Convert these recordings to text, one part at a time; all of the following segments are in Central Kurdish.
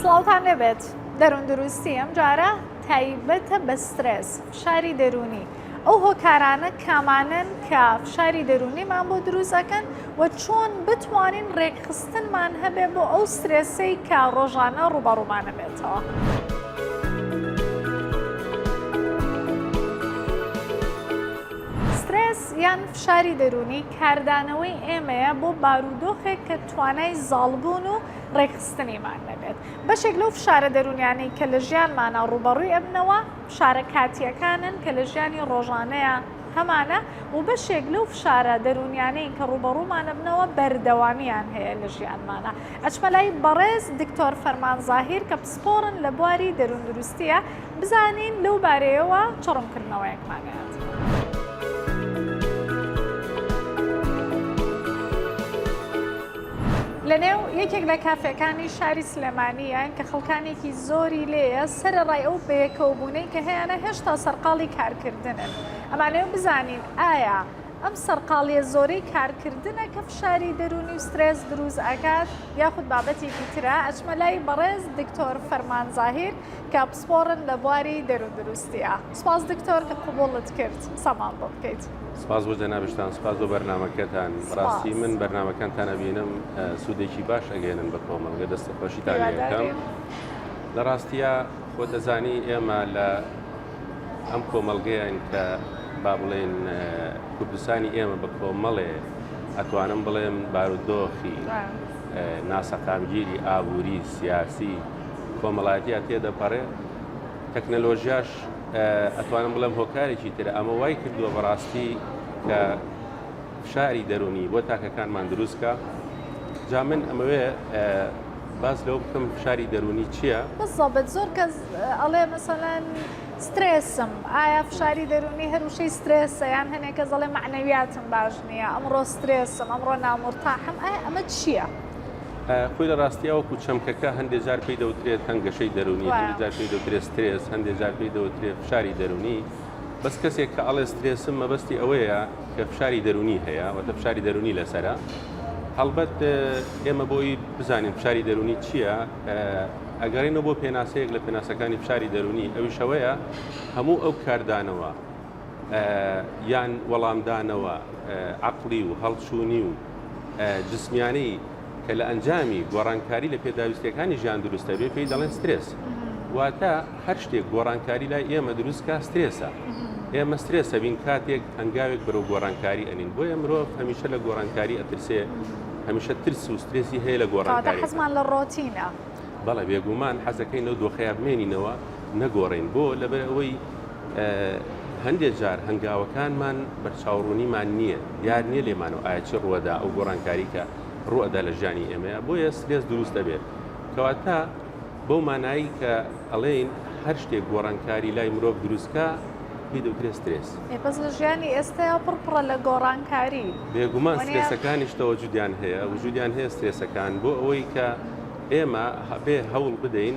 سڵاوتان لێبێت دەروون دروستی ئەم جارە تایبەتە بە سترێس فشاری دەرونی ئەو هۆکارانە کامانن کە فشاری دەرونیمان بۆ دروستەکەن و چۆن بتوانین ڕێکخستنمان هەبێ بۆ ئەو سترێسەی کە ڕۆژانە ڕوبەڕوومانە بێتەوە. سترێس یان فشاری دەرونی کاردانەوەی ئێمەیە بۆ بارودۆخێک کە توانای زاڵبوون و ڕێکخستنیمان نەبێت. بەشێک لەو فشارە دەروونیانەی کە لە ژیانمانا ڕووبەڕووی ئەبنەوە، فشارە کاتییەکانن کە لە ژیانی ڕۆژانەیا هەمانە و بەشێک لەو فشارە دەروونیانەی کە ڕووبەڕوومان ئەبنەوە بەردەوامییان هەیە لە ژیانمانا. ئەچمە لای بەڕێز دکتۆر فەرمان زاهیر کە پسپۆڕن لە بواری دەرووندروستییە، بزانین لەو بارەیەوە چ ڕوونکردنەوەیەکمان هەیە. لەنێو یەکێک لە کافێکانی شاری سلێمانیان کە خەڵکانێکی زۆری لێیە سەرڕای ئەو بەیەکەوەبوونەی کە هەیەە هێشتا سەرقاڵی کارکردنن ئەمانەیە بزانین ئایا ئەم سەرقاڵیە زۆرەی کارکردنە کە فشاری دەرونی و سترێس دروست ئەکات یاخود بابەتێکی ترە ئەچمە لای بەڕێز دکتۆر فەرمان زاهیر کە پسپۆڕن لە بواری دەرون دروستیە سپاس دکتۆر کە قبوڵت کرد قسەمان بۆ بکەیت. سپاس بۆ جەنابشتان سپاس بۆ بەرنامەکەتان بەڕاستی من بەرنامەکانتان ئەبینم سودێکی باش ئەگەیەنن بە کۆمەڵگە دەست خۆشیتان لێ ئەکەم لە ڕاستیا خۆت دەزانی ئێمە لە ئەم کۆمەڵگەیان کە با بڵێن کوردستانی ئێمە بە کۆمەڵێ ئەتوانم بڵێم بارودۆخی ناسەقامگیری ئابووری سیاسی کۆمەڵاتیا تێدەپەڕێ تەکنەلۆژیاش ئەتوانم بڵێم هۆکارێکی تر ئەمە وای کردووە بەڕاستی کە فشاری دەرونی بۆ تاکەکانمان دروست بکە جا من ئەمەوێ باس لەوە بکەم فشاری دەرونی چییە؟ بزەبت زۆر کەس ئەڵێ مەسەلەن سترێسم ئایا فشاری دەرونی هەروشەی سترێسە یان هەنێک کەس ئەڵێ معنەویاتم باش نییە ئەمڕۆ سترێسم ئەمڕۆ نامرتاحم ئایا ئەمە چییە؟ خۆی لە ڕاستیا وەکو چەمکەکە هەندێک جار پێی دەوترێت تەنگەشەی دەرونی هەندێک جار پێی دەوترێت سترێس هەندێک جار پێی دەوترێت فشاری دەرونی بەس کەسێک کە ئەڵێ سترێسم مەبەستی ئەوەیە کە فشاری دەرونی هەیە وەتە فشاری دەرونی لەسرە هەڵبەت ئێمە بۆی بزانین فشاری دەرونی چییە ئەگەڕێنەوە بۆ پێناسەیەک لە پێناسەکانی فشاری دەرونی ئەویشەوەیە هەموو ئەو کاردانەوە یان وەڵامدانەوە عقلی و هەڵچوونی و جسمیانەی کە لە ئەنجامی گۆڕانکاری لە پێداویستیەکانی ژیان دروستە بێ پێی دەڵێن سترێس واتە هەر شتێک گۆڕانکاری لای ئێمە دروستکە سترێسە ئێمە سترێسە بین کاتێک هەنگاوێک بەرەو گۆڕانکاری ئەنین بۆیە مرۆڤ هەمیشە لە گۆڕانکاری ئەترسێ هەمیشە ترس و سترێسی هەیە لە گۆڕانکاری حزمان لە ڕۆتینە بەڵێ بێگومان حەزەکەی نەو دۆخەیە بمێنینەوە نەگۆڕین بۆ لەبەر ئەوەی هەندێک جار هەنگاوەکانمان بەرچاوڕوونیمان نییە، دیار نییە لێمانەوە ئایا چی ڕووەدا ئەو گۆڕانکاری کە ڕووئەدا لە ژیانی ئێمەیە، بۆیە سترێس دروست دەبێت. کەواتە بەو مانایی کە ئەڵێین هەر شتێک گۆڕانکاری لای مرۆڤ دروست کا پێی دەوترێت سترێس. ئێ بەس لە ژیانی ئێستەیا پڕ پڕە لە گۆڕانکاری. بێگومان سترێسەکانیش تەوەجودیان هەیە، وجودیان هەیە سترێسەکان بۆ ئەوەی کە ئێمە بێ هەوڵ بدەین،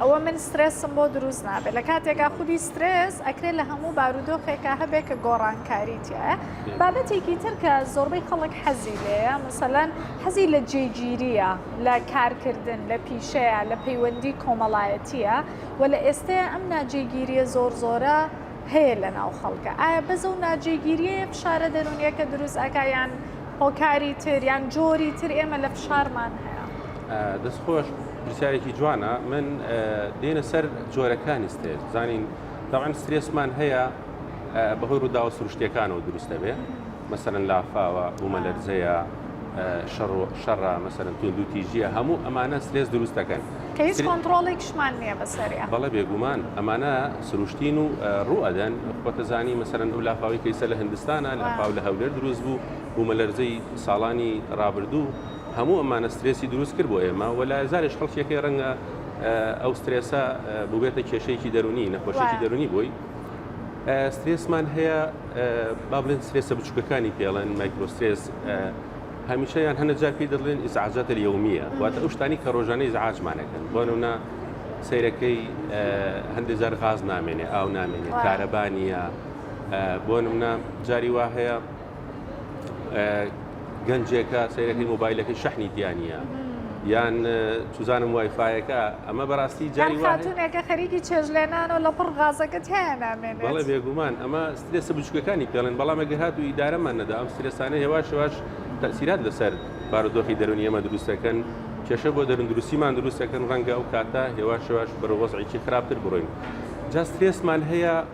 ئەوە من سترێسم بۆ دروست نابێت لە کاتێکا خودی سترێس ئەکرێت لە هەموو بارودۆخێکا هەبێت کە گۆڕانکاری تایە بابەتێکی تر کە زۆربەی خەڵک حەزی لەیە مثلەن حەزی لە جێگیریە لە کارکردن لە پیشەیە لە پەیوەندی کۆمەڵایەتیە و لە ئێستەیە ئەم ناجێگیریە زۆر زۆرە هەیە لە ناو خەڵکە ئایا بەزە و ناجێگیریە فشارە دەرونیەکە دروست ئەکایان هۆکاری تر یان جۆری تر ئێمە لە فشارمان هەیە دەست خۆش پرسیارێکی جوانە من دێنە سەر جۆرەکانی ستێز زانین داوان سترێسمان هەیە بەهۆی ڕووداوە سروشتەکانەوە دروستە بێ مەسەرەن لافاوە بوومە لەرزەیە شەڕە مەسەرەن تون دو تیژیە هەموو ئەمانە سترێس دروستەکەن هیچ کۆنتترۆڵێکشمان نییە بەسەریا بەڵە بێگومان ئەمانە سروشتین و ڕوئەدەن خۆتەزانی مەسەرەن ئەو لافاوی کەیسە لە هندستانە لە پاو لە هەولێر دروست بوو بوومە لەرزەی ساڵانی ڕابردوو هەموو ئەمانە سترێسی دروست کرد بۆ ئێمە و لە زاریش خەڵکیەکەی ڕەنگە ئەو سترێسە ببێتە کێشەیەکی دەرونی نەخۆشیی دەرونی بووی سترێسمان هەیە با بڵێن سترێسە بچووکەکانی پێڵێن مایکرۆسترێس هەمیشەیان هەنە جا پێی دەڵێن ئیزعاجات یومیە واتە ئەو شتانی کە ڕۆژانە ئیزعاجمانەکەن بۆنە سیرەکەی هەندێک جار غاز نامێنێ ئاو نامێنێ کارەبانە بۆ نمنا جاری وا هەیە گەنجێکە سەیرەکەی مۆبایلەکەی شەحنی دیانە یان چزانم وایفاەکە ئەمە بەڕاستی جاری خاتونێکە خەریکی چێژلێنان و لە پڕ غازەکەت هەیەنامێن بەڵێ بێگومان ئەمە سترێسە بچکەکانی پێڵێن بەڵامە گەهات و ئیدارەمان نەدا ئەم سترێسانە هێواش هێواش تەسیرات لەسەر بارودۆخی دەرونی ئەمە دروستەکەن کێشە بۆ دەرون دروستیمان دروستەکەن ڕەنگە ئەو کاتە هێواش هێواش بەرەوەزعێکی خراپتر بڕۆین جا سترێسمان هەیە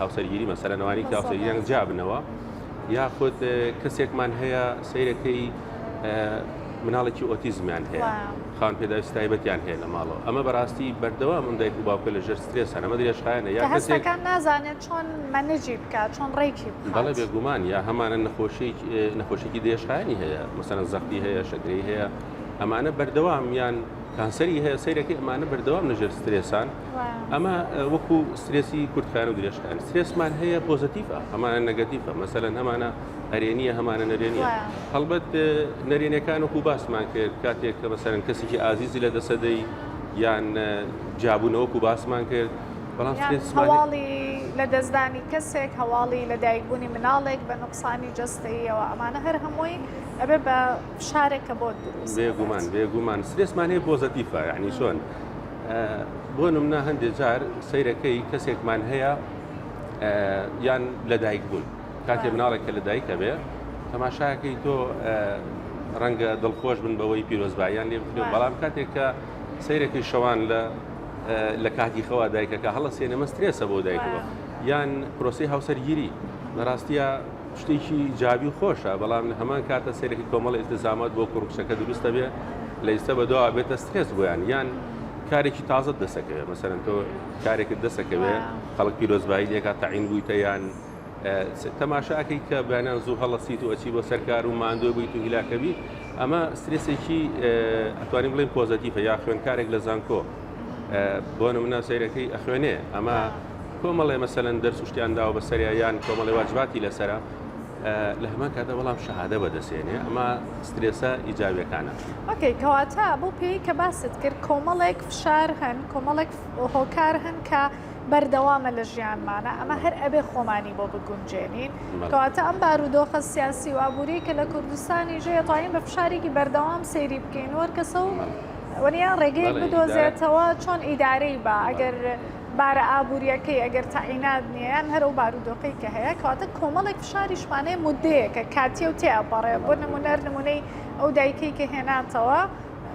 هاوسەرگیری مەسەرە نەوانی کە هاوسەرگیریان جابنەوە یاخود کەسێکمان هەیە سیرەکەی مناڵێکی ئۆتیزمیان هەیە خان پێداویست تایبەتیان هەیە لە ماڵەوە ئەمە بەڕاستی بەردەوام من دایک و باوکە لە ژەر سترێ سەرەمە درێژخایەنە یا کەسەکان نازانێت چۆن منجی بکات چۆن ڕێکی بەڵێ بێگومان یا هەمانە نەخۆشی نەخۆشیی درێژخایانی هەیە مەسەرەن زەختی هەیە شەکری هەیە ئەمانە بەردەوامیان کانسەری هەیە سیرەکەی ئەمانە بەردەوام لە ژێر سترێسان ئەمە وەکو سترێسی کورتکار و درێژکان سترێسمان هەیە پۆزتیفە هەمانە نەگەتیفە مەسەەن هەمانە هەرێنیە هەمانە نەرێنیە هەڵبەت نەرێنەکان وەکو باسمان کرد کاتێک کە بەسەرن کەسێکی ئازیزی لە دەسەدەی یان جابوونەوەکو باسمان کرد بەڵام هەواڵی لە دەستدانی کەسێک هەواڵی لە دایکبوونی مناڵێک بە نقصانی جستەیەوە ئەمانە هەر هەمووی ئەبێ بە شارێکە بۆ دروست بێگومان بێگومان سرێسمانەیە پۆزتیفە یعنی چۆن بۆ نمونە هەندێ جار سەیرەکەی کەسێکمان هەیە یان لەدایک بوون کاتێ مناڵێک کە لەدایکە بێ تەماشاکەی تۆ ڕەنگە دڵخۆش بن بەوەی پیرۆزبایان لێ بکرێن بەڵام کاتێک کە سیرەکەی شەوان لە لە کاتی خەوا دایکەکە هەڵە سێنەمە سترێسە بۆ دایکەوە یان پرۆسی هاوسەرگیری بەڕاستە شتێکی ئیجابی و خۆشە، بەڵام لە هەمان کاتە سەیرێکی کۆمەڵە ئیلتزامات بۆ کوڕ و کچەکە دروست دەبێت، لە ئیستە بەدواوە ئەبێتە سترێس بۆیان، یان کارێکی تازەت دەسەکەوێت، مەسەلەن تۆ کارێکت دەسەکەوێت خەڵک پیرۆزبایی لێ ئەکات، تەعین بوویتە یان تەماشا ئەکەیت کە بەیانیان زوو هەڵەسیت و ئەچی بۆ سەرکار و ماندوێ بوویت و هیلاکە بیت، ئەمە سترێسێکی ئەتوانین بڵێین پۆزەتیفە، یا خوێندکارێک لە زانکۆ بۆ نمونە سەیرەکەی ئەخوێنێ ئەمە کۆمەڵێ مەسەلەن دەرس و شتیان داوە بەسەریا یان کۆمەڵێ واجباتی لەسرە لە هەمان کاتە بەڵام شەهادە بەدەسێنێ ئەمە سترێسە ئیجاویەکانە ئۆکەی کەواتە بۆ پێی کە باست کرد کۆمەڵێک فشار هەن کۆمەڵێک هۆکار هەن کە بەردەوامە لە ژیانمانە ئەمە هەر ئەبێ خۆمانی بۆ بگونجێنین کەواتە ئەم بارودۆخە سیاسی و ئابووری کە لە کوردستانی ژێ توانین بە فشارێکی بەردەوام سەیری بکەین وەرکەسە و وەنیان ڕێگەیەک بدۆزێتەوە چۆن ئیدارەی بە ئەگەر بارە ئابوورییەکەی ئەگەر تەعینات نییە یان هەر ئەو بارودۆخەی کە هەیە کەواتە کۆمەڵێک فشاریشمان هەیە موددەیەکە کاتییە و تێئەپەڕێ بۆ نموونە هەر نموونەی ئەو دایکەی کە هێناتەوە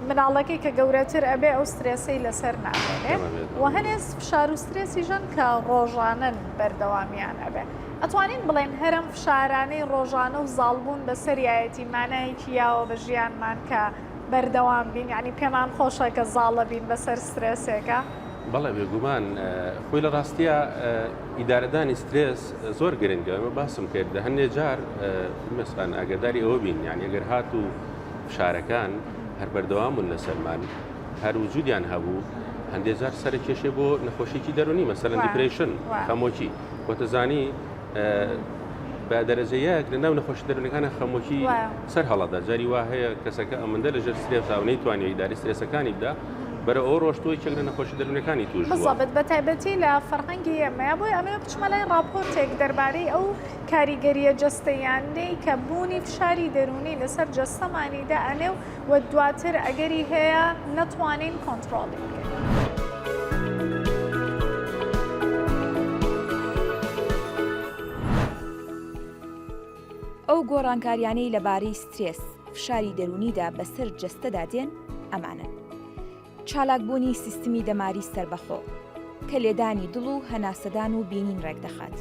مناڵەکەی کە گەورەتر ئەبێ ئەو سترێسەی لەسەر نامێنێ و هەنێ فشار و سترێسی ژەن کە ڕۆژانەن بەردەوامیان ئەبێ ئەتوانین بڵێن هەرم فشارانەی ڕۆژانە و زاڵبوون بەسەریایەتی مانایەکی یاوە بە ژیانمان کە بەردەوام بین یعنی پێمان خۆشە کە زاڵە بین بەسەر سترێسێکە. بەڵێ بێگومان خۆی لە ڕاستیە ئیدارەدانی سترێس زۆر گرنگە ئەمە باسم کرد لە هەندێک جار مەسان ئاگداری ئەوە بین یان ئەگەر هات و فشارەکان هەر بەردەوامون لە سەرمان هەر وجودیان هەبوو هەندێک جار سەرکێشێ بۆ نەخۆشیی دەرونی مەسەرەن دیپریشن خەمۆکی وەتەزانی بە دەرەجە یەک لە ناو نەخۆشی دەرونەکانە خەمۆکی سەر هەڵەدا جاری وا هەیە کەسەکە ئەمەندە لە ژێر سرێسا و نەیتوانانی داری سرێسەکانی بدا بەرە ئەو ڕۆشتوی چێک لە نەخۆشی دەرونەکانی توش بزڵبت بە تایبەتی لە فەرهەنگی ئەمەیە بۆی ئەمێ بچمە لای ڕاپۆرتێک دەربارەی ئەو کاریگەریە جستەیانەی کە بوونی فشاری دەرونی لەسەر جەستەمانیدا ئەنێ و و دواتر ئەگەری هەیە نەتوانین کۆنتڕۆڵی بکەین. ئەو گۆڕانکاریانەی لەبارەی سترێس، فشاری دەروونیدا بەسەر جەستەدا دێن ئەمانەن. چالاکبوونی سیستمی دەماری سەربەخۆ، کە لێدانی دڵ و هەناسەدان و بینین ڕێکدەخات.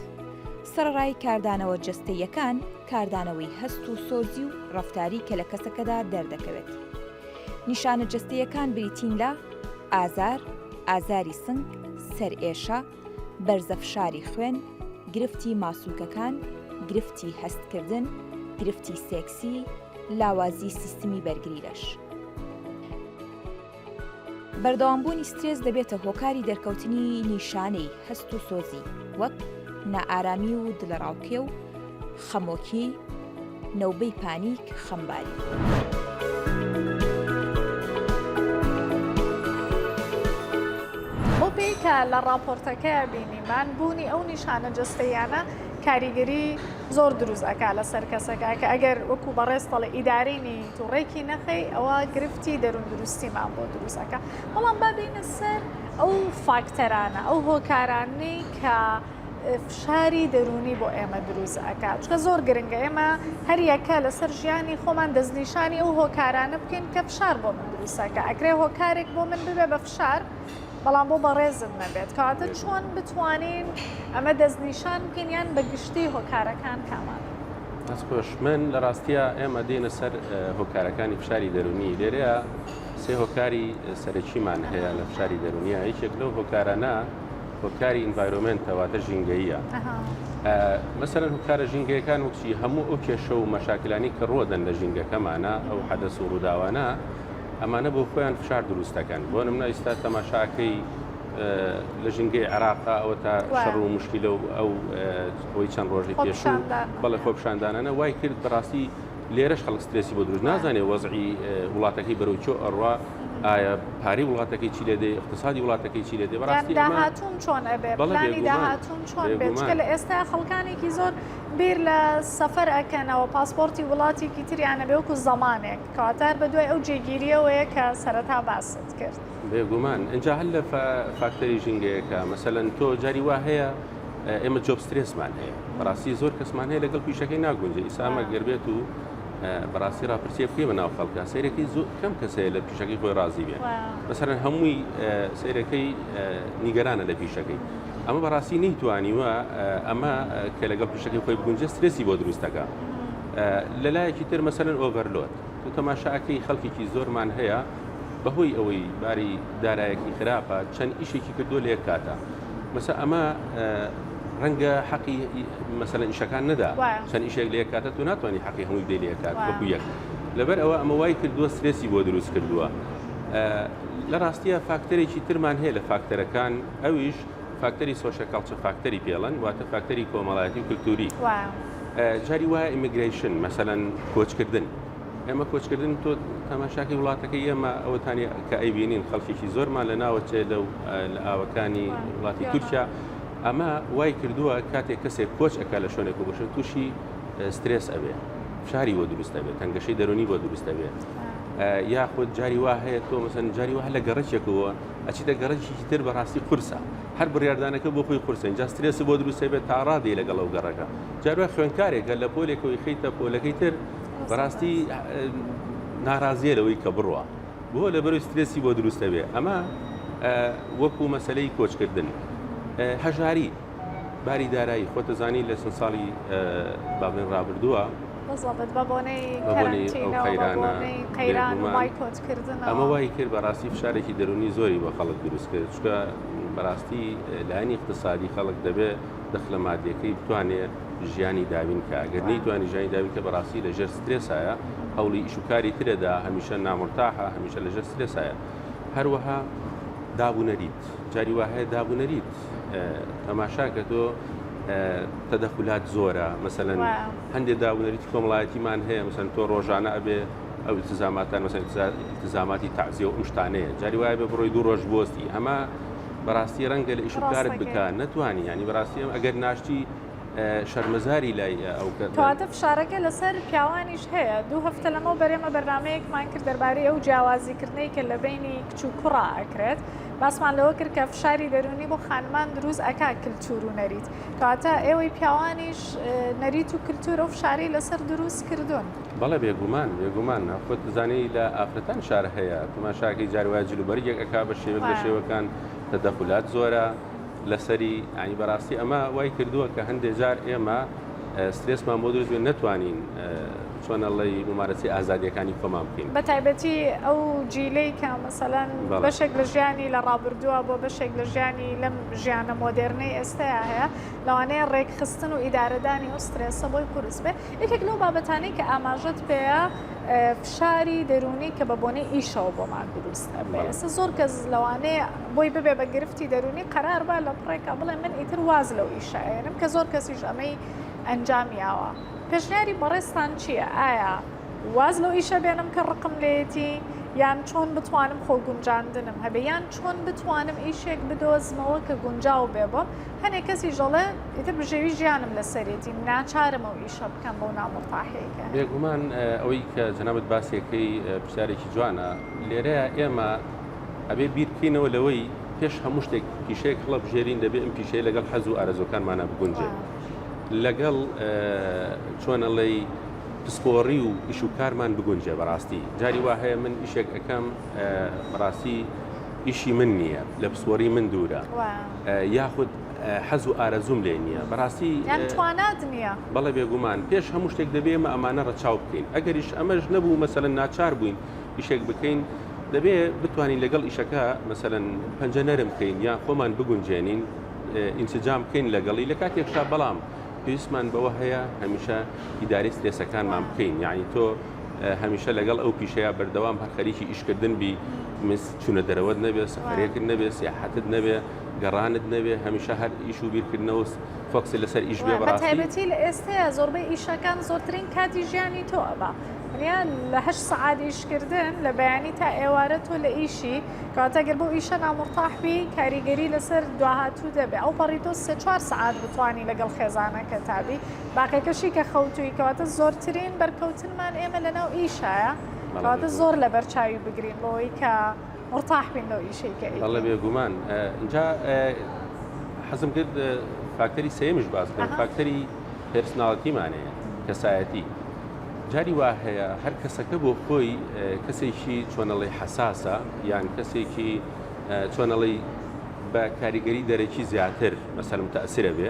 سەرەڕای کاردانەوە جەستەییەکان، کاردانەوەی هەست و سۆزی و ڕەفتاری کە لە کەسەکەدا دەردەکەوێت. نیشانە جەستەییەکان بریتین لە، ئازار، ئازاری سنگ، سەرئێشە، بەرزە فشاری خوێن، گرفتی ماسولکەکان، گرفتی هەستکردن، گرفتی سێکسی، لاوازی سیستمی بەرگری لەش. بەردەوامبوونی سترێس دەبێتە هۆکاری دەرکەوتنی نیشانەی هەست و سۆزی وەک نائارامی و دلەڕاوکێ و خەمۆکی، نۆبەی پانیک، خەمباری. بەوپێی کە لە ڕاپۆرتەکەیا بینیمان بوونی ئەو نیشانە جەستەییانە کاریگەری زۆر دروست ئەکا لەسەر کەسەکە کە ئەگەر وەکو بەڕێز تەڵی ئیداری نیت و ڕێکی نەخەی ئەوە گرفتی دەرون دروستیمان بۆ دروست ئەکا بەڵام با بێینە سەر ئەو فاکتەرانە ئەو هۆکارانەی کە فشاری دەرونی بۆ ئێمە دروست ئەکا چکە زۆر گرنگە ئێمە هەریەکە لەسەر ژیانی خۆمان دەستنیشانی ئەو هۆکارانە بکەین کە فشار بۆ من دروستەکە ئەکرێ هۆکارێک بۆ من ببێ بە فشار بەڵام بۆ بەڕێزم نەبێت کاتە چۆن بتوانین ئەمە دەستنیشان بکەین یان بە گشتی هۆکارەکان کامان دەستخۆش من لە ڕاستیە ئێمە دێنە سەر هۆکارەکانی فشاری دەرونی لێرەیە سێ هۆکاری سەرەکیمان هەیە لە فشاری دەرونیە یەکێک لەو هۆکارانە هۆکاری ئینڤایرۆمنتە واتە ژینگەیە مەسەرەن هۆکارە ژینگەکان وچی هەموو ئەو کێشە و مەشاکلانی کە ڕۆدەن لە ژینگەکەمانە ئەو حەدەس و ڕووداوانە ئەمانە بۆ خۆیان فشار دروستەکەن بۆ نمنا ئیستا تەماشاکەی لە ژینگەی عراقا ئەوە تا شەڕ و مشکیلە و ئەو خۆی چەند ڕۆژی پێش بەڵێ خۆپشاندانانە وای کرد بەڕاستی لێرەش خەڵک سترێسی بۆ دروست نازانێ وەزعی وڵاتەکەی بەرەو چۆ ئەڕوا ئایا پارەی وڵاتەکەی چی لێ دێ اقتصادی وڵاتەکەی چی لێ دێ بەڕاستی داهاتون چۆن ئەبێ بەڵێ داهاتون چۆن بێت چکە لە ئێستا خەڵکانێکی زۆر بیر لە سەفەر ئەکەنەوە پاسپۆرتی وڵاتێکی تریانە بێ وەکو زەمانێک کاتار بە دوای ئەو جێگیریەوەیە کە سەرەتا باست کرد بێگومان ئەجا هەر لە فاکتەری ژینگەیەەکە مەسەەن تۆ جاری وا هەیە ئێمە جۆب سترێسمان هەیە بەڕاستی زۆر کەسمان هەیە لەگەڵ پیشەکەی ناگونجێ ئیسامە گەربێت و بەڕاستی راپرسیە پێ بە ناو خەڵکە سیرەکەی زۆر کەم کەسەیە لە پیشەکەی خۆی رازی بێ بەسەر هەمووی سیرەکەی نیگەرانە لە پیشەکەی ئەمە بەڕاستی نەیتوانیوە ئەمە کە لەگەڵ پیشەکەی خۆی بگونجێ سترێسی بۆ دروستەکە لە لایەکی تر مەسەرەن ئۆڤەرلۆت تو تەماشاکەی خەڵکێکی زۆرمان هەیە بەهۆی ئەوەی باری دارایەکی خراپە چەند ئیشێکی کردو لە یەک کاتە مەسە ئەمە ڕەنگە حەقی مەسەن ئیشەکان نەدا چەند ئیشێک لە کاتە تو ناتوانانی حەقی هەمووی بدەی لە کات وەکو یەک لەبەر ئەوە ئەمە وای کردووە سرێسی بۆ دروست کردووە لە ڕاستیە فاکتەرێکی ترمان هەیە لە فاکتەرەکان ئەویش فاکتەری سۆشە کاڵچە فاکتەری پێڵەن واتە فاکتەری کۆمەڵایەتی و کللتوری جاری وایە ئیممیگریشن مەسەەن کۆچکردن ئێمە کۆچکردنی تۆ تەماشاکەی وڵاتەکەی ئێمە ئەوەتانی کە ئەیبینین خەڵکیی زۆرمان لە ناوە چێ لە و لە ئاوەکانی وڵاتی تورکیا ئەمە وای کردووە کاتێک کەسێک کۆچ ئەکا لە شوێنێک و بەشە تووشی سترێس ئەبێ شاری وە دروستە بێت تەنگەشەی دەرونی بۆ دروستە بێت یاخود جاری وا هەیە تۆ مەسەن جاری وە لە گەڕێکێکەوە ئەچیتە گەڕێکی تر بەڕاستی قورسە هەر بڕاردانەکە بۆ خۆی قورسە جا سترێس بۆ دروستە بێت تاڕادی لەگەڵ ئەو گەڕەکە جاروە خوێنکارێکە لە پۆلێکەوەی خیتە پۆلەکەی تر بەراستی نارازیە لەوەی کە بڕە بۆ لە بەروی سترێسی بۆ دروستە بێ ئەمە وەکو مەسلەی کۆچکردن هەژاری باری دارایی خۆتەزانی لە چەند ساڵی بابلێن ڕابردووە ئەمە وای کرد بەڕاستی فشارێکی دەرونی زۆری بە خەڵک دروست کرد چکە بەڕاستی لایەنی اقتصادی خەڵک دەبێت دەخلە مادیەکەی بتوانێت ژیانی دابین کە ئەگەر نەیتوانی ژیانی دابین کە بەڕاستی لە ژێر سترێسایە هەوڵی ئیشوکاری ترەدا هەمیشە نامرتاحە هەمیشە لە ژێر سترێسایە هەروەها دابوونەریت جاری وهەیە دابوونەریت تەماشاکە تۆ تەدەخولات زۆرە مەسەەن هەندێک دابوونەریتی کۆمەڵایەتیمان هەیە مەسەن تۆ ڕۆژانە ئەبێ ئەو التزاماتان مەسەن التزاماتی تعزیە و ئەم شتانەیە جاری وایە بە بڕۆی دوو ڕۆژ بۆستی ئەمە بەڕاستی ڕەنگە لە ئیشکارت بک نەتوانی ینی بەڕاستی ئەم ئەگەر ناشتی شەرمەزاری لای ئەو کەواتە فشارەکە لەسەر پیاوانیش هەیە دوو هەفتە لەمە بەرێمە بەرنمەیەکمان کرد دەربارەی ئەو جیاوازیکردنەی کە لە بینی کچ و کوڕا ئەکرێت باسمان لەوە کرد کە فشاری دەرونی بۆ خانمان دروست ئەک کللتور و نەریت کەواتە ئێوەی پیاوانیش نەریت و کللتور و فشاری لەسەر دروست کردوون. بەڵێ بێگومان بێگومان خۆت بزانی لە ئافرەتان شار هەیە تماشاکەی جار وایە جل و بەرگێک ئەک بە شێوە لە شێوەکان تەدەخولات زۆرە لەسەری ئەنی بەڕاستی ئەمە وای کردووە کە هەندێک جار ئێمە سترێسمان بۆ دروستێن نەتوانین چۆنەڵی ممارەسی ئازادیەکانی کۆمان بکەین بە تایبەتی ئەو جیلەی کە مەسەلەن بەشێک لە ژیانی لە ڕابردووە بۆ بەشێک لە ژیانی لەم ژیانە مۆدێرنەی ئێستایا هەیە لەوانەیە ڕێکخستن و ئیدارەدانی ئەو سترێسە بۆی قورس بێ یەکێک لەو بابەتانەی کە ئاماژەت پێیە فشاری دەرونی کە بە بۆنەی ئیشەوە بۆمان دروست ئەبێ زۆر کەس لەوانەیە بۆی ببێ بە گرفتی دەرونی قەرار با لە پڕێکا بڵێ من ئیتر واز لەو ئیشایەنم کە زۆر کەسیش ئەمەی ئەنجامیاوە پێشنیاری بەڕێستان چییە ئایا واز لەو ئیشە بێنم کە ڕقم لێتی یان چۆن بتوانم خۆ گونجاندنم هەبێ یان چۆن بتوانم ئیشێک بدۆزمەوە کە گونجاو بێ بۆم هەنێ کەسیش ئەڵێ ئیتر بژێوی ژیانم لەسەرێتی ناچارم ئەو ئیشە بکەم بەو نامورتاحەیەکە هەیە. بێگومان ئەوەی کە جەنابت باسی ئەکەی پرسیارێکی جوانە، لێرەیا ئێمە ئەبێ بیر بکەینەوە لەوەی پێش هەموو شتێک پیشەیەک هەڵەبژێرین دەبێ ئەم پیشەیە لەگەڵ حەز و ئارەزوەکانمانە بگونجێت لەگەڵ چۆن ئەڵێی پسپۆڕی و ئیش و کارمان بگونجێ بەڕاستی جاری وا هەیە من ئیشێک ئەەکەم بەڕاستی ئیشی من نییە لە پسپۆری من دوورە یاخود حەز و ئارەزووم لێ نییە بەڕاستی توانات نییە بەڵێ بێگومان پێش هەموو شتێک دەبێمە ئەمانە ڕەچاو بکەین ئەگەریش ئەمەش نەبوو مەسەن ناچار بووین ئیشێک بکەین دەبێ بتوانین لەگەڵ ئیشەکە مەسەن پەنجە نەرم بکەین یان خۆمان بگونجێنین ئینسجام بکەین لەگەڵی لە کاتێکشا بەڵام پێویستمان بەوە هەیە هەمیشە ئیداری سترێسەکانمان بکەین یعنی تۆ هەمیشە لەگەڵ ئەو پیشەیە بەردەوام هەر خەریکی ئیشکردن بی چونە دەرەوەت نەبێ سەفەرێکت نەبێ سیاحەتت نەبێ گەڕانت نەبێ هەمیشە هەر ئیش و بیرکردنەوە فۆکسی لەسەر ئیش بێ بەڕاستی تایبەتی لە ئێستەیە زۆربەی ئیشەکان زۆرترین کاتی ژیانی تۆ ئەبا ونیا لە هەشت سەعات ئیشکردن لە بەیانی تا ئێوارە تۆ لە ئیشی کەواتە گەر بۆ ئیشە نامرتاحبی کاریگەری لەسەر دواهاتوو دەبێ ئەو پەڕی تۆ سێ چوار سەعات بتانی لەگەڵ خێزانەکە تابی باقیەکەشی کە خەوتووی کەواتە زۆرترین بەرکەوتنمان ئێمە لەناو ئیشایە کەواتە زۆر لەبەر چاوی بگرین بۆی کە مرتاح بین لەو ئیشەی کە ئەڵە بێگومان اینجا حەزم کرد فاکتەری سێمش باز بکەم فاکتەری پرسناڵتیمانەیە کەسایەتی جاری وا هەیە هەر کەسەکە بۆ خۆی کەسێکی چۆنەڵی حساسە یان کەسێکی چۆنەڵی بە کاریگەری دەرەکی زیاتر مەسەرم تەسرە بێ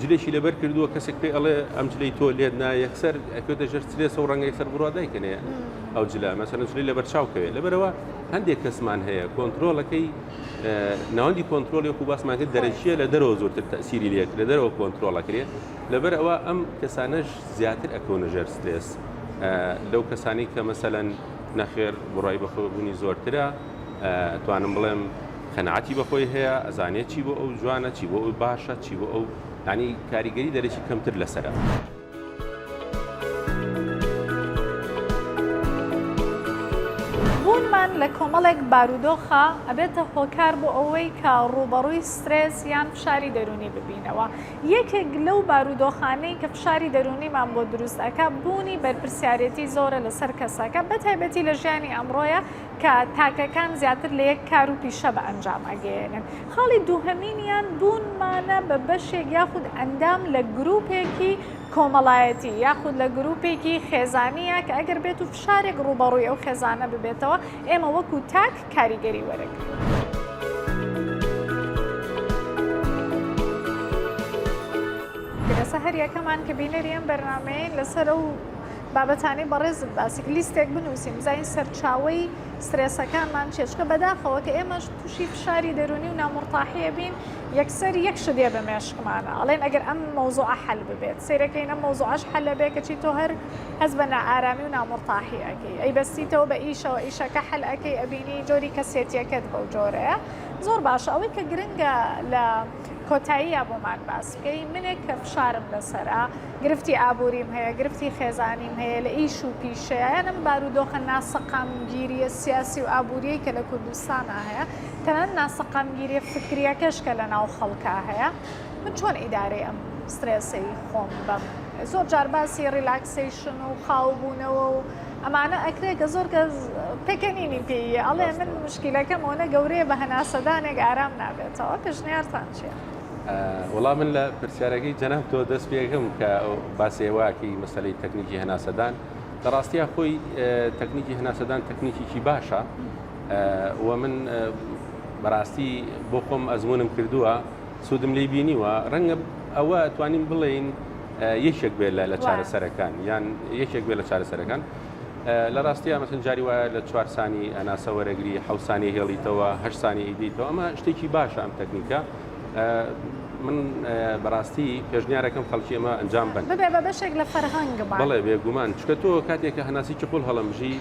جلێکی لەبەر کردووە کەسێک پێ ئەڵێ ئەم جلی تۆ لێت نا یەکسەر ئەکوێتە ژەر ترێسە و ڕەنگە یەکسەر بڕوا دایکەێ ئەو جلە مەسەرە جلی لەبەر چاوکەوێ لەبەرەوە هەندێک کەسمان هەیە کۆنتترۆلەکەی ناوەندی کۆنتترۆلی وکو باسمانکە دەرەکیە لە دەرەوە زۆرتر تەسیری لێت لە دەرەوە کۆنتترۆلەکرێت لەبەر ئەوە ئەم کەسانەش زیاتر ئەکەونە ژەر سترێس لەو کەسانی کە مەسەەن نەخێر بڕای بەخۆبوونی زۆرترە توانم بڵێم قەناعەتی بەخۆی هەیە ئەزانێت چی بۆ ئەو جوانە چی بۆ ئەو باشە چی بۆ ئەو ینی کاریگەری دەرەکی کەمتر لەسرە. بوونمان لە کۆمەڵێک بارودۆخە ئەبێتە هۆکار بۆ ئەوەی کە ڕووبەڕووی سترێس یان فشاری دەرونی ببینەوە یەکێک لەو بارودۆخانەی کە فشاری دەرونیمان بۆ دروستەکە بوونی بەرپسیارەتی زۆرە لەسەر کەسەکە بەتایبەتی لە ژیانی ئەمڕۆیە کە تاکەکان زیاتر لە یەک کار و پیشە بە ئەنجام ئەگەیەنن. خاڵی دووهەمینیان بوونمانە بە بەشێک یاخود ئەندام لە گرووپێکی کۆمەڵایەتی یاخود لە گرووپێکی خێزانییە کە ئەگەر بێت و فشارێک ڕووبەڕووی ئەو خێزانە ببێتەوە ئێمە وەکوو تاک کاریگەری وەرەگرین. گرەسە هەر یەکەمان کە بینەری ئەم بەرنامەیەین لەسەر ئەو بابەتانەی بەڕێزت باسی کرد لیستێک بنووسین بزانین سەرچاوەی سترێسەکانمان چیە چونکە بەداخەوە کە ئێمەش تووشی فشاری دەروونی و نامورتاحیە بین یەکسەر یەک شت دێ بە مێشکمانە ئەڵێن ئەگەر ئەم مەوزوعە حەل ببێت سەیرەکەین ئەم مەوزوعەش حەل بێ کەچی تۆ هەر هەز بە نائارامی و نامورتاحی ئەکەی ئەی بەستیتەوە بە ئیشەوە ئیشەکە حەل ئەەکەی ئەبینی جۆری کەسێتیەکەت بەو جۆرەیە زۆر باشە ئەوەی کە گرنگە لە کۆتاییە بۆمان باس بکەی منێک کە فشارم لەسرە گرفتی ئابووریم هەیە، گرفتی خێزانیم هەیە، لە ئیش و پیشەیە، یان ئەم بارودۆخە ناسەقامگیرییە سیاسی و ئابوورییەی کە لە کوردستانا هەیە، تەنانەت ناسەقامگیرییە فکرییەکەش کە لەناو خەڵکا هەیە، من چۆن ئیدارەی ئەم سترێسەی خۆم بەم؟ زۆر جار باسی ڕیلاکسەیشن و خاوبوونەوە و ئەمانە ئەکرێ کە زۆر کەس پێکەنینی پێییە، ئەڵێ من موشکیلەکەم ئەوەنە گەورەیە بە هەناسەدانێک ئارام نابێتەوە، پێشنیارتان چییە؟ وەڵا من لە پرسیارەکەی جەناب تۆ دەست پێکەم کە باسێواکی مەسلەی تەکنیکی هەناسەدان لە ڕاستیا خۆی تەکنیکی هەناسەدان تەکنیکیکی باشە و من بەڕاستی بۆ خۆم ئەزمونم کردووە سوودم لی بینیوە ڕەنگە ئەوە توانین بڵێین یەکێک بێت لە چارەسەرەکان یان یەکێک بێت لە چارەسەرەکان لە ڕاستیا مەسن جاری وایە لە چوار سانی ئەناسە وەرەگری حەو سانی هێڵیتەوە هە سانی ئیدیتەوە ئەمە شتێکی باشە ئەم تەکنیکە من بەڕاستی پێشنیارەکەم خەڵکی ئەمە ئەنجام بن ببێ بە بەشێک لە فەرهەنگ بڵێ بێگومان چکە تۆ کاتێکە هەناسی چقل هەڵمژی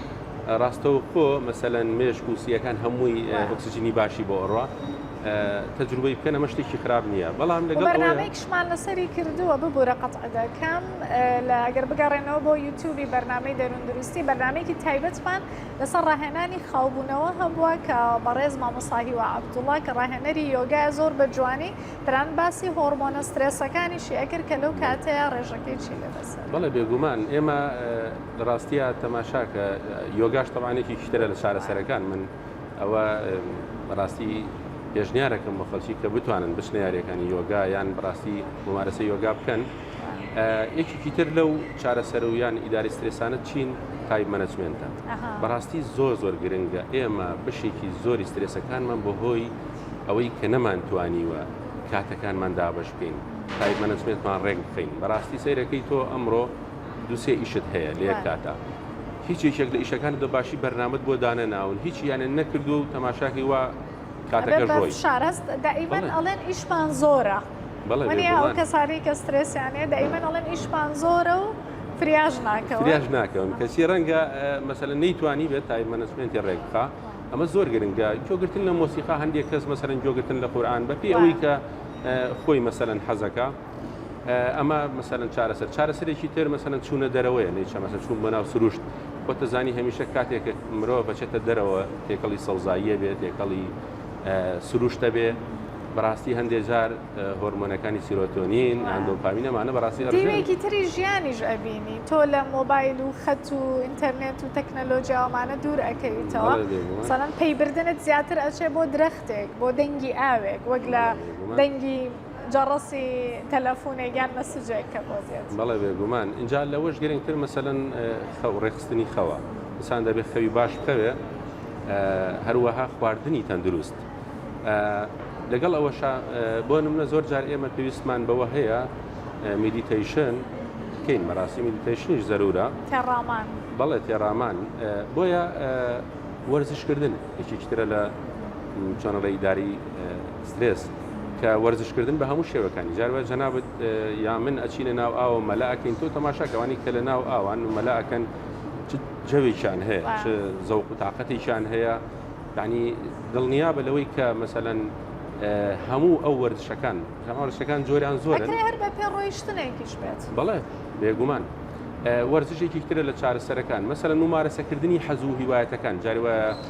ڕاستەوە خۆ مەسەەن مێشک و سیەکان هەمووی ئۆکسسیجنی باشی بۆ ئەڕە تەجروبەی بکەن ئەمە شتێکی خراپ نییە بەڵام لەگەڵ بەرنامەیەکشمان لەسەری کردووە ببوورە قەتعدەکەم لە ئەگەر بگەڕێنەوە بۆ یوتوبی بەرنامەی دەروون دروستی بەرنمەیەکی تایبەتمان لەسەر ڕاهێنانی خاوبوونەوە هەبووە کە بەڕێز مامۆساهی و عبدوڵا کە ڕاهێنەری یۆگای زۆر بە جوانی تەنان باسی هۆڕمۆنە سترێسەکانیشی ئەکرد کە لەو کاتەیە ڕێژەکەی چی لێ بەسەر بەڵێ بێگومان ئێمە لە ڕاستیە تەماشاکە یۆگاش تەوانێکی شترە لە چارەسەرەکان من ئەوە بەڕاستی پێشنیارەکەم بە خەڵکی کە بتوانن بچنە یاریەکانی یۆگا یان بڕاستی ممارەسە یۆگا بکەن یەکێکی تر لەو چارەسەر و یان ئیداری سترێسانە چین تایم مەنەجمێنتە بەڕاستی زۆر زۆر گرنگە ئێمە بەشێکی زۆری سترێسەکانمان بە هۆی ئەوەی کە نەمانتوانیوە کاتەکانمان دابش بکەین تایم مەنەجمێنتمان ڕێک بخەین بەڕاستی سەیرەکەی تۆ ئەمڕۆ دوسێ ئیشت هەیە لە یەک کاتە هیچ یەکێک لە ئیشەکان دە باشی بەرنامەت بۆ دانە ناون هیچ یانە نەکردو و تەماشاکەی وا کاتەکە ڕۆی شارەست دائیمەن ئەڵێن ئیشمان زۆرە. وەنێ ئەو کەسانی کە سترێسیانەیە دایمەن ئەڵێن ئیشمان زۆرە و فریاش ناکەون فریاش ناکەون کەسی ڕەنگە مەسەلە نەیتوانی بێت تای مەنەسمێنتی ڕێک بخە ئەمە زۆر گرنگە جۆگرتن لە مۆسیقا هەندێک کەس مەسەرەن جۆگرتن لە قورآان بەپی ئەوەی کە خۆی مەسەرەن حەزەکە ئەمە مەسەرەن چارەسەر چارەسەرێکی تر مەسەرەن چوونە دەرەوەیە نەیچە مەسە چوون بۆ ناو سروشت وەتەزانی هەمیشە کاتێک مرۆ بەچێتە دەرەوە تێکەڵی سەوزاییە بێت تێکەڵی سروشتە بێ بەڕاستی هەندێک جار هۆرمۆنەکانی سیرۆتۆنین یان دۆپامین ئەمانە بەڕاستی ڕژێن. دیوێکی تری ژیانیش ئەبینی تۆ لە مۆبایل و خەت و ئینتەرنێت و تەکنەلۆجیا ئەمانە دوور ئەکەویتەوە بەڵێ دەی بووە. سەرەن پەیبردنت زیاتر ئەچێ بۆ درەختێک بۆ دەنگی ئاوێک وەک لە بەڵێ دەی بووە. دەنگی جەڕەسی تەلەفونێک یان مەسجێک کە بۆ دێت. بەڵێ بێگومان ئینجا لەوەش گرنگتر مەسەلەن خەو ڕێکخستنی خەوە ئینسان دەبێت خەوی باش بکەوێ هەروەها خواردنی تەندروست لەگەڵ ئەوەشا بۆ نمونە زۆر جار ئێمە پێویستمان بەوە هەیە میدیتەیشن کەین مەراسی میدیتەیشنیش زەرورە تێڕامان بەڵێ تێڕامان بۆیە وەرزشکردن یەکێکترە لە چۆنەڵی داری سترێس کە وەرزش کردن بە هەموو شێوەکانی جار وایە جەنابت یا من ئەچینە ناو ئاوە مەلا ئەکەین تۆ تەماشا کەوانی کە لە ناو ئاوان و مەلا ئەکەن جەوێکیان هەیە چ زەوق و تااقەتێکیان هەیە ینی دڵنیا بە لەوەی کە مەسەەن هەموو ئەو وەرزشەکان هەماوەشەکان جۆریان زۆر هەر بە پێ ڕۆیشتنێکیش بێت بەڵێ بێگومان. وەرزشێکی ترە لە چارەسەرەکان مەسەر ممارەسەکردنی حەزوو هیوایەتەکان جاروە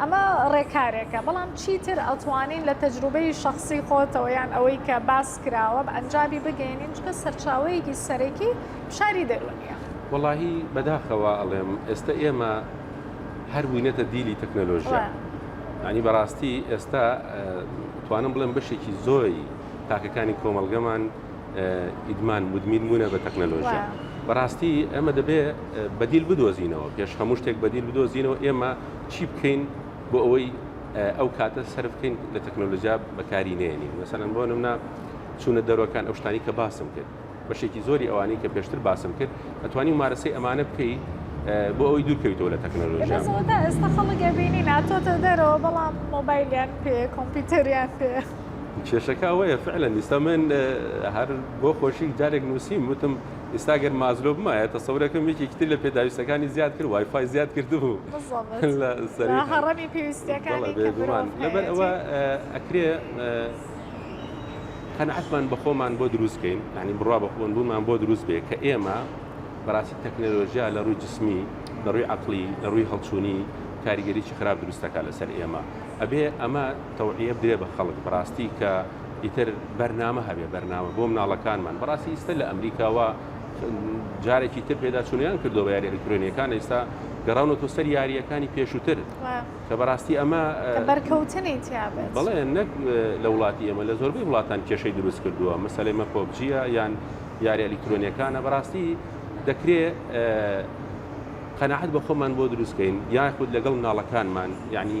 ئەمە ڕێکارێکە، بەڵام چیتر ئەتوانین لە تەجروبەی شەخسی خۆتەوە یان ئەوەی کە باس کراوە بە ئەنجامی بگەینین، چونکە سەرچاوەیەکی سەرەکی فشاری دەروونییە. وەڵاهی بەداخەوە ئەڵێم ئێستە ئێمە هەر بووینەتە دیلی تەکنەلۆژیا، یانی بەڕاستی ئێستا توانم بڵێم بەشێکی زۆری تاکەکانی کۆمەڵگەمان ئیدمان مدمین بوونە بە تەکنەلۆژیا، بەڕاستی ئێمە دەبێ بەدیل بدۆزینەوە، پێش هەموو شتێک بەدیل بدۆزینەوە، ئێمە چی بکەین بۆ ئەوەی ئەو کاتە سەرف بکەین لە تەکنۆلۆژیا بەکاری نێنین مەسەن بۆ نمنا چوونە دەرۆکان ئەو شتانی کە باسم کرد بەشێکی زۆری ئەوانی کە پێشتر باسم کرد ئەتوانی مارەسەی ئەمانە بکەی بۆ ئەوی دوورکەویتەوە لە تەکنۆلۆژیا ئێستا خەڵگە بینی ناتۆتە دەرەوە بەڵام مۆبایلیان پێ کۆمپیوتەریان پێ کێشەکە ئەوەیە فعلەن دیستا من هەر بۆ خۆشی جارێک نووسیم وتم ئیستا گەر مازلۆ بمایە تەسەورەکەم یەکێکی تر لە پێداویستەکانی زیاد کرد وای فای زیاد کردبوو لەبەر ئەوە ئەکرێ قەنعەتمان بەخۆمان بۆ دروست بکەین ینی بڕوا بەخۆن بوومان بۆ دروست بێ کە ئێمە بەڕاستی تەکنەلۆژیا لە ڕووی جسمی لە ڕووی عقلی لە ڕووی هەڵچوونی کاریگەریی خراپ دروستەکە لەسەر ئێمە ئەبێ ئەمە تەوعە بدرێ بە خەڵک بڕاستی کە ئیتر بەرنامە هەبێ بەرنامە بۆ مناڵەکانمان بەڕاستی ئیستا لە ئەمریکاوە جارێکی تر پێدا چونیان کردو بە یاری ئەلکترۆنیەکان ئێستا گەڕاونە تۆ سەر یاریەکانی پێشووتر کە بەڕاستی ئەمە بەرکەوتنی بڵێ نەک لە وڵاتی ئێمە لە زۆربەی وڵاتان کێشەی دروست کردووە مەسلەمە پۆبجیە یان یاری ئەلکترۆنیەکانە بەڕاستی دەکرێ قەنەحەت بە خۆمان بۆ دروستکەین یاخود لەگەڵ مناڵەکانمان یعنی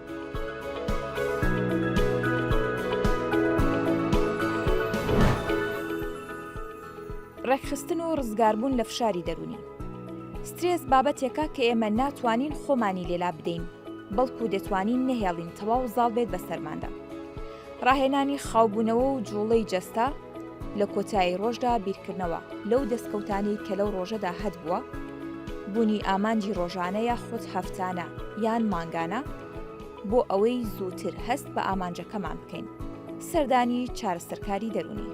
ڕێکخستن و ڕزگاربوون لە فشاری دەرونی سترێس بابەتێکە کە ئێمە ناتوانین خۆمانی لێلا بدەین بەڵکو دەتوانین نەهێڵین تەواو زاڵ بێت بەسەرماندا ڕاهێنانی خاوبوونەوە و جوڵەی جەستە، لە کۆتایی ڕۆژدا بیرکردنەوە لەو دەستکەوتانەی کە لەو ڕۆژەدا هەتبووە، بوونی ئامانجی ڕۆژانە یاخود هەفتانە یان مانگانە بۆ ئەوەی زووتر هەست بە ئامانجەکەمان بکەین، سەردانی چارەسەرکاری دەروونی.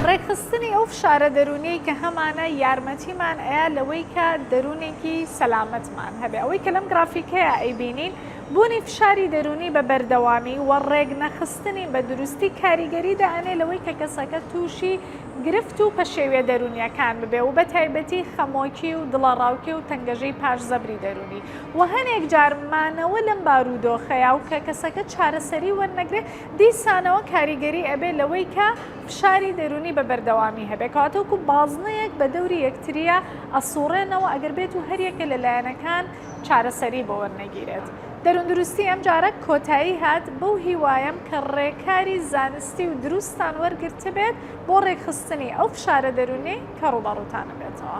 ڕێکخستنی ئەو فشارە دەرونیەی کە هەمانە یارمەتیمان ئەیە لەوەی کە دەروونێکی سەلامەتمان هەبێ ئەوەی کە لەم گرافیکەیە ئەیبینین بوونی فشاری دەرونی بە بەردەوامی و ڕێک نەخستنی بە دروستی کاریگەری دەئەنێ لەوەی کە کەسەکە تووشی گرفت و پەشێویە دەرونیەکان ببێ و بە تایبەتی خەمۆکی و دڵەڕاوکێ و تەنگەژەی پاش زەبری دەرونی وە هەنێک جار مانەوە لەم بارودۆخەیا و کە کەسەکە چارەسەری وەرنەگرێ دیسانەوە کاریگەری ئەبێ لەوەی کە فشاری دەرونی بە بەردەوامی هەبێ کەواتە وەکو بازنەیەک بە دەوری یەکتریا ئەسوڕێنەوە ئەگەر بێت و هەریەکە لە لایەنەکان چارەسەری بۆ وەرنەگیرێت دەرون دروستی ئەم جارە کۆتایی هات بەو هیوایەم کە ڕێکاری زانستی و دروستتان وەرگرتبێت بۆ ڕێکخستنی ئەو فشارە دەرونیەی کە ڕوبەڕوتانە بێتەوە.